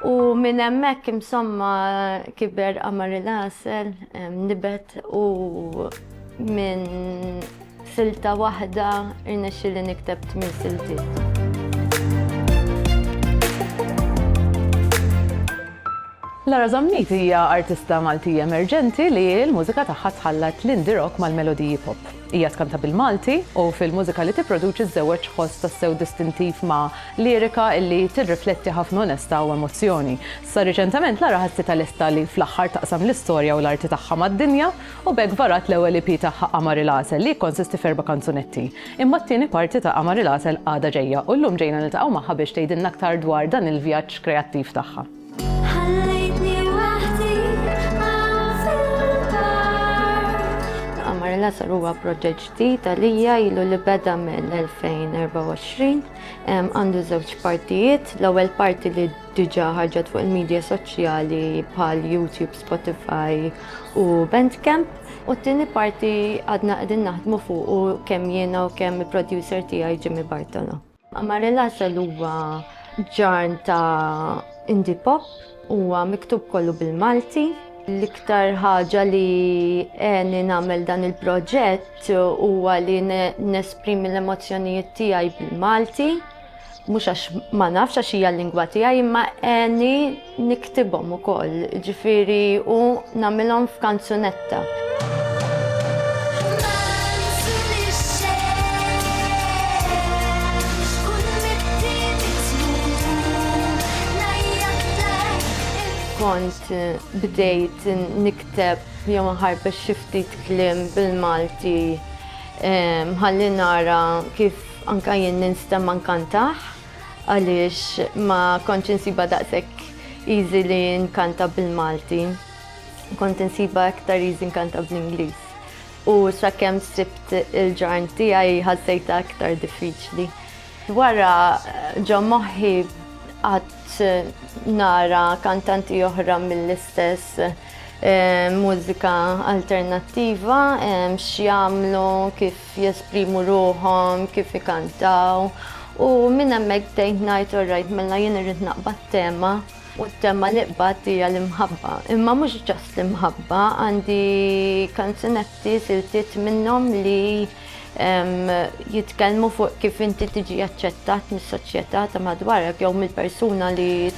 U minn hemmhekk imsomma kiber qamar il-għasel, nibet u minn silta waħda irnexxi li nikteb tmien siltiet. Lara Zammit hija artista Maltija emerġenti li l-mużika tagħha tħallat l-indie rock mal-melodiji pop. Hija tkanta bil-Malti u fil-mużika li tipproduċi żżewweġ ħoss tassew distintiv ma' lirika li tirrifletti ħafna onestà u emozzjoni. Sa riċentament Lara ħassitha lesta li fl-aħħar taqsam l-istorja u l-arti tagħha mad-dinja u b'hekk varat l-ewwel EP tagħha Qamar il-Għasel li jikkonsisti f'erba' kanzunetti. Imma t-tieni parti ta' Qamar il-Għasel għadha ġejja u llum ġejna niltaqgħu magħha biex tgħidilna aktar dwar dan il-vjaġġ kreattiv tagħha. L-għasal huwa proġett ġdid għalija ilu li beda mill-2024. Għandu żewġ partijiet. L-ewwel parti li diġà ħarġet fuq il-medja soċjali bħal YouTube, Spotify u Bandcamp. U t-tieni parti għadna qegħdin naħdmu fuq u kemm jiena u kemm il-producer tiegħi Jimmy Bartolo. Amarel Asel huwa ġarn ta' indie pop, huwa miktub kollu bil-Malti. L-iktar ħaġa li għeni nagħmel dan il-proġett huwa li nesprimi l-emozzjonijiet tiegħi bil-Malti, mhux għax ma nafx għax hija l-lingwa tiegħi imma għeni niktibhom ukoll, ġifieri u nagħmilhom f'kanzunetta. kont eh, bdejt nikteb jew nħarbex xi ftit kliem bil-Malti eh, ħalli nara kif anka jien ninstem ankantaħ. għaliex ma kontx insiba daqshekk easy li nkanta bil-Malti. Kont insiba aktar easy nkanta bl-Ingliż. U sakemm sibt il-ġarn tiegħi ħassejta aktar diffiċli. Wara ġo moħħi qatt eh, nara kantanti oħra mill-istess eh, mużika alternattiva eh, x'jagħmlu kif jesprimu ruħhom, kif ikantaw, u minn hemmhekk bdejt ngħid orrajt mela jien irrid naqbad tema, u t-tema li qbadt hija l-imħabba. Imma mhux just l-imħabba, għandi kanzunetti, siltiet minnhom li jitkellmu fuq kif inti tiġi aċċettat mis-soċjetà ta' madwarek jew mill-persuna li